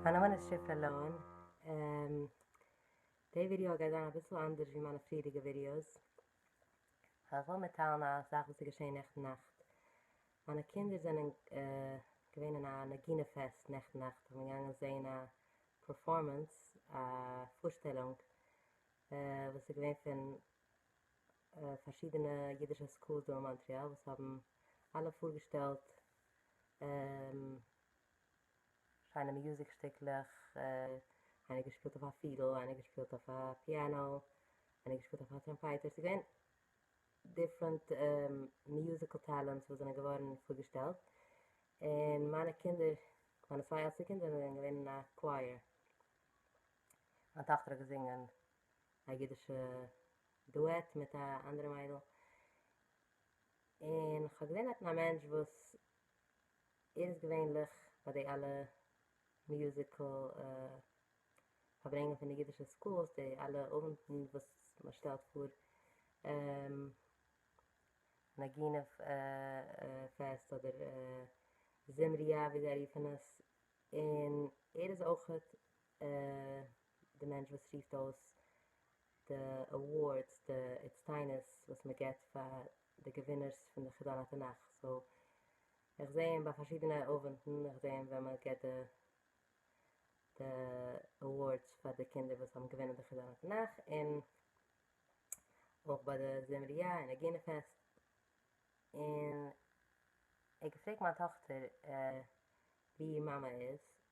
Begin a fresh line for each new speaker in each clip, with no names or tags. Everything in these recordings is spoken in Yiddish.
מיין נאמען איז שיפע לאון, די ווידיאו גייט זיין אביסל אנדערש ווי מיינע פריערדיגע ווידיאוס, איך וויל מיטטיילן א זאך וואס איז געשען נעכטן נאכט, מיינע קינדער זענען געווען אין א נגינה פעסט נעכטן נאכט, זיי זענען געגאנגען זען א פערפארמענס, א פארשטעלונג וואס איז געווען פון. פארשידענע אידישע סקולס דא אין מאנטריאל וואס האבן אלע פארגעשטעלט שיינע מיוזיק שטיקלעך, איינער געשפילט אויף א פידל, איינער געשפילט אויף א פיאנא, איינער געשפילט אויף א טראמפייטער, ס'איז געווען דיפרענט מיוזיקעל טעלענטס וואס זענען געווארן פארגעשטעלט, און מיינע קינדער, מיינע צוויי עלטסטע קינדער זענען געווען אין א קווייער, מיין טאכטער האט געזינגען א אידישע דועט מיט א אנדערע מיידל, און כ'האב געזען דארטן א מענטש וואס ער איז געווענליך ביי די אלע מיוזיקעל פארברענגען פון די אידישע סקולס, די אלע אוונטן וואס מען שטעלט פאר נגינה פעסט אדער זמריה ווי זיי רופן עס, און ער איז אויכעט די מענטש וואס רופט אויס די אווארדס, די הצטיינות וואס מען געבט פאר די געווינערס פון די חידון התנך, סאו איך זעה אים ביי פארשידענע אווענטן, איך זעה אים ווען מען געבט די די אווארדס פאר די קינדער וואס האבן געווינען די חידון התנך, און אויך ביי די זמריה און נגינה פעסט, און ער האט געפרעגט מיין טאכטער ווי איר מאמע איז,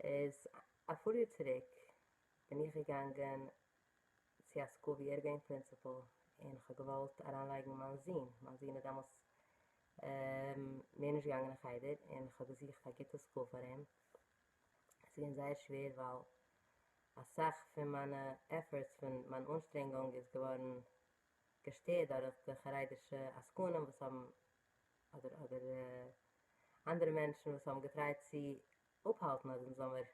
איז אפאר יאר צוריק בין איך געגאנגען צו א סקול ווי ער איז געווען פרינסיפעל און כ'האב געוואלט אריינלייגן מיין זון, מיין זון איז דעמאלטס מער נישט געגאנגען אין חדר און כ'האב געזוכט א גוטע סקול פאר אים, עס איז געווען זייער שווער ווייל אסאך פון מיינע עפארטס פון מיין אנשטרענגונג איז געווארן געשטערט דורך די חרדישע עסקנים וואס האבן אדער אדער אנדערע מענטשן וואס האבן געטרייט צו אפהאלטן אז אונז זאלמער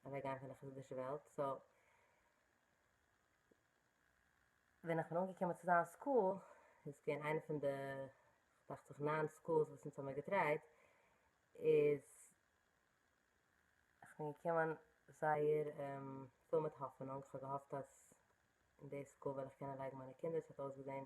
אוועק גיין פון די חסידישע וועלט, סא ווען איך בין אנגעקומען צו זיין סקול, דאס איז געווען איינע פון די דאכט זיך ניין סקולס וואס אונז האבן מיר געטרייט, איז איך בין געקומען זייער פול מיט האפענונג, איך האב געהאפט אז אין די סקול וועל איך קענען לייגן מיינע קינדער, עס האט אויסגעזען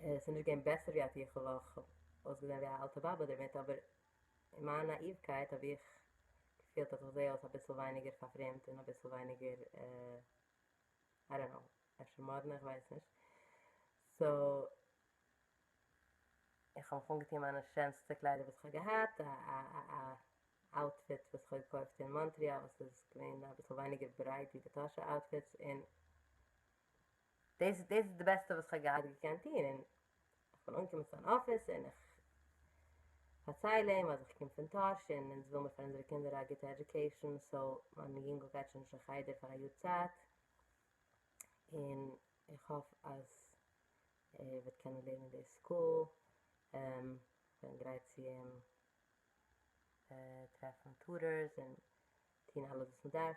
ס'איז נישט געווען בעסער ווי א טיכל, אויך אויסגעזען ווי א אלטע באבע דערמיט, אבער אין מיין נאאיווקייט האב איך געפילט אז איך זעה אויס אביסל ווייניגער פארפרעמדט און אביסל ווייניגער איי דאנט נאו, אפשר מאדנע, איך ווייס נישט. סאו איך האב מיך אנגעטון מיינע שענסטע קליידער וואס איך האב געהאט, א אוטפיט וואס איך האב געקויפט אין מאנטריאל וואס איז געווען אביסל ווייניגער ברייט ווי די טאהשע אוטפיטס, און. דאס איז די בעסטע וואס כ'האב געהאט געקענט טון, און כ'בין אנגעקומען צו אן אפיס און איך פארצייל אים אז איך קום פון טאהש און אונז וויל מיר פאר אונזערע קינדער א גוטע עדיוקעישאן, סאו מיין יונגל גייט שוין נישט אין חדר פאר א יאר צייט, און איך האף אז ער וועט קענען לערנען אין די סקול, כ'בין גרייט צו אים טרעפן טוטארס און טון אלעס וואס מ'דארף.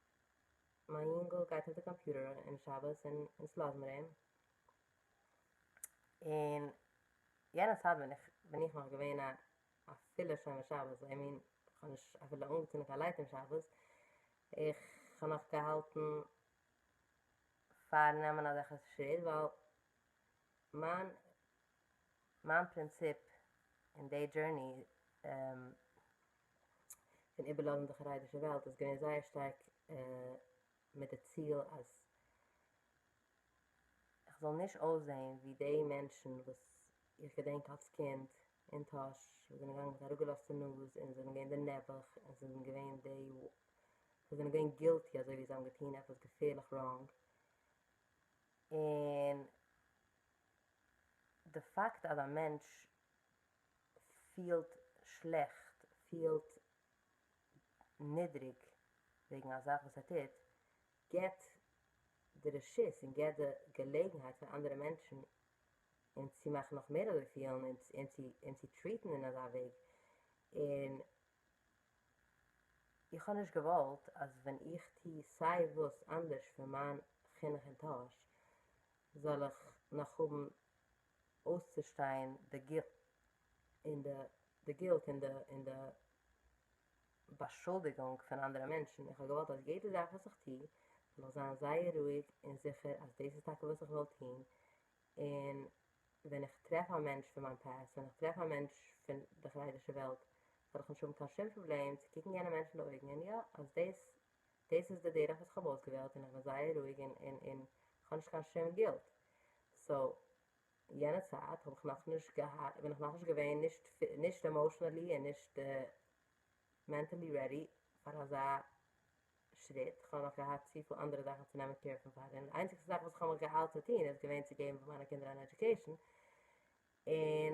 מיין יונגל גייט אויף די קאמפיוטער אום שבת און אונז לאזמער אים, און יענע צייט בין איך בין איך נאך געווען א א פולער שומר שבת, איי מין כ'האב נישט אפילו אנגעצינדן קיין לייט אום שבת, איך האב נאך געהאלטן פארן נעמען אזעלכע שריט ווייל מיין מיין פרינציפ אין די דזשורני פון איבערלאזן די חרדישע וועלט איז געווען זייער שטארק מיט די ציל אז איך זאל נישט אויסזען ווי די מענטשן וואס איך געדענק אלס קינד אין טאהש וואס זענען געגאנגען מיט אראפגעלאזטע נאז און זענען געווען די נעבעך און ס'זענען געווען די וואס זענען געווען גילטי אזוי ווי זיי האבן געטון עפעס געפערליך ראנג און די פאקט אז א מענטש פילט שלעכט, פילט נידריג וועגן א זאך וואס ער טוט, געבט די רשות און געבט די געלעגנהייט פאר אנדערע מענטשן אים צו מאכן נאך מער אזוי פילן און צו טריעטן אין אזא וועג, און איך האב נישט געוואלט אז ווען איך טו סיי וואס אנדערש פון מיין חינוך אין טאהש זאל איך נאך האבן אויסצושטיין די גילט און די די גילט און די און די באשולדיגונג פון אנדערע מענטשן, איך האב געוואלט אז יעדע זאך וואס איך טו זאל איך זיין זייער רואיג און זיכער אז דאס איז טאקע וואס איך וויל טון, און ווען איך טרעף א מענטש פון מיין פעסט, ווען איך טרעף א מענטש פון די חרדישע וועלט, זאל איך נישט האבן קיין שום פראבלעם צו קוקן יענע מענטש אין די אויגן און יא, אז דאס דאס איז די דרך וואס כ'האב אויסגעוועלט און כ'בין זייער רואיג און און און כ'האב נישט קיין שום גילט, סאו יענע צייט האב איך נאכנישט געהאט בין איך נאכנישט געווען נישט נישט עמאושענעלי און נישט מענטעלי רעדי פאר אזא שריט, כ'האב נאך געהאט צופיל אנדערע זאכן צו נעמען קעיר פון פאר דעם, די איינציגסטע זאך וואס כ'האב מיך געאיילט צו טון איז געווען צו געבן פאר מיינע קינדער אן עדיוקעישן, און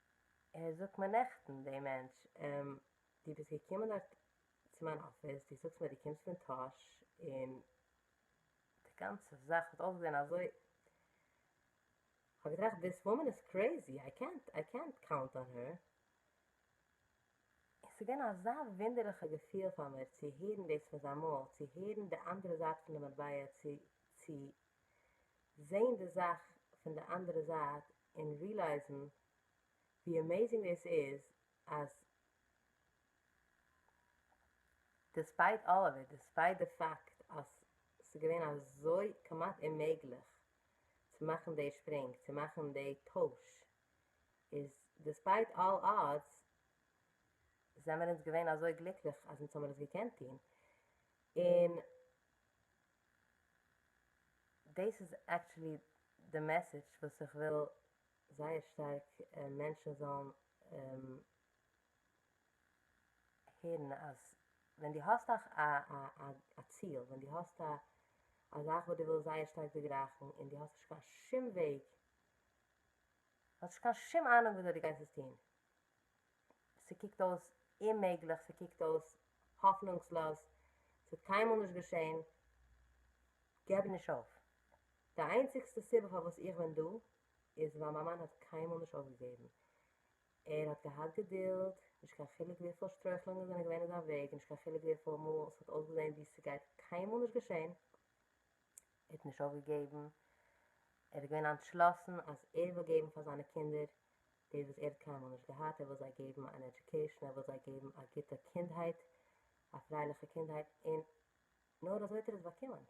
ער זאגט מיר נעכטן דעם מענטש, און דו ביסט געקומען דארט צו מיין אפיס, דו זאגסט מיר דו קומסט פון טאהש, און די גאנצע זאך האט אויסגעזען אזוי, כ'האב געטראכט דיס וואמען איז קרעיזי, איי קענט, איי קענט קאונט אן הער, און ס'איז געווען אזא וואונדערליכע געפיל פאר מיר צו הערן דאס פון זיין מויל, צו הערן די אנדערע זייט פון די מטבע, צו, צו. זעהן די זאך פון די אנדערע זייט און רילייזן ווי עמעזינג דאס איז אז דיספייט אלל אוו איט, דיספייט די פאקט אז ס'איז געווען אזוי כמעט אוממעגליך צו מאכן די שפרינג, צו מאכן די טויש, איז דיספייט אלל אדס זעמער אונז געווען אזוי גליקליך אז אונז האמיר עס געקענט טון, און דעס איז עקטשעלי די מעסעדש וואס איך וויל זייער שטארק מענטשן זאלן הערן אז ווען דו האסט א ציל ווען דו האסט א זאך וואס דו ווילסט זייער שטארק דערגרייכן און דו האסט נישט קיין שום וועג האסט נישט קיין שום אהנונג וויאזוי דו גייסט עס טון ס'קוקט אויס אוממעגליך, ס'קוקט אויס האפנונגסלאז, ס'וועט קיינמאל נישט געשען, געב נישט אויף. די איינציגסטע סיבה פארוואס איך בין דא איז ווייל מיין מאן האט קיינמאל נישט אויפגעגעבן. ער האט געהאט געדולד, נישט קיין חילוק וויפיל שטרויכלונגען זענען געווען אין זיין וועג, נישט קיין חילוק וויפיל מאל ס'האט אויסגעזען ווי ס'גייט קיינמאל נישט געשען, ער האט נישט אויפגעגעבן, ער איז געווען אנטשלאסן אז ער וויל געבן פאר זיינע קינדער דאס וואס ער האט קיינמאל נישט געהאט, ער וויל זיי געבן אן עדיוקעישן, ער וויל זיי געבן א גוטע קינדהייט, א פרייליכע קינדהייט, און נאר אזוי האט ער עס באקומען,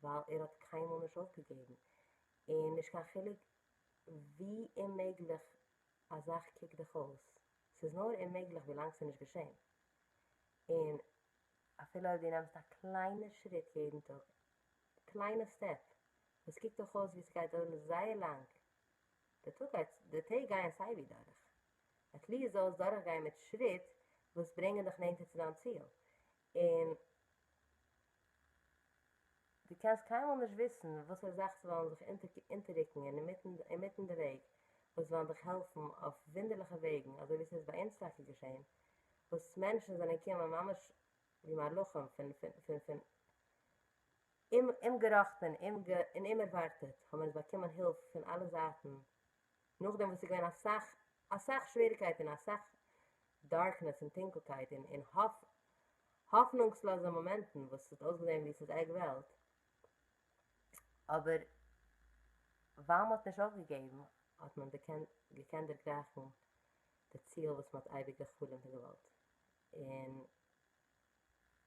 ווייל ער האט קיינמאל נישט אויפגעגעבן, און נישט קיין חילוק ווי אוממעגליך א זאך קוקט דיך אויס, ס'איז נאר אוממעגליך ווילאנג ס'איז נישט געשען, און אפילו אויב דו נעמסט א קליינע שריט יעדן טאג, א קליינע סטעפ, וואס קוקט דאך אויס ווי ס'גייט דויערן זייער לאנג, די טאג גייט, די טעג גייען סייווי דורך, עט ליעסט זאל עס דורכגיין מיט שריט וואס ברענגען דיך נענטער צו דיין ציל, און דו קענסט קיינמאל נישט וויסן וואסערע זאכן ס'וועלן זיך אונטעררוקן אינמיטן די וועג וואס וועלן דיך העלפן אויף וואונדערליכע וועגן, אזוי ווי ס'איז ביי אונז טאקע געשען, וואס מענטשן זענען קומען ממש ווי מלאכים פון פון פון אומגעראכטען און אומערווארטעט האבן אונז באקומען הילף פון אלע זייטן נאכדעם וואס ס'געווען אסאך אסאך שוועריקייט און אסאך דארקנעס און טונקלקייט און און האפנונגסלאזע מאמענטן וואס ס'האט אויסגעזען ווי ס'איז עק וועלט אבער ווייל מ'האט נישט אויפגעגעבן האט מען געקענט דערגרייכן די ציל וואס מען האט אייביג געחלומט און געוואלט, און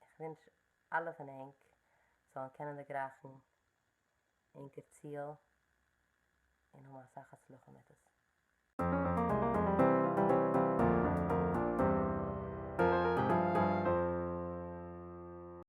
איך ווינטש אלע פון ענק זאלן קענען דערגרייכן ענקער ציל און האבן אסאך הצלחה מיט עס.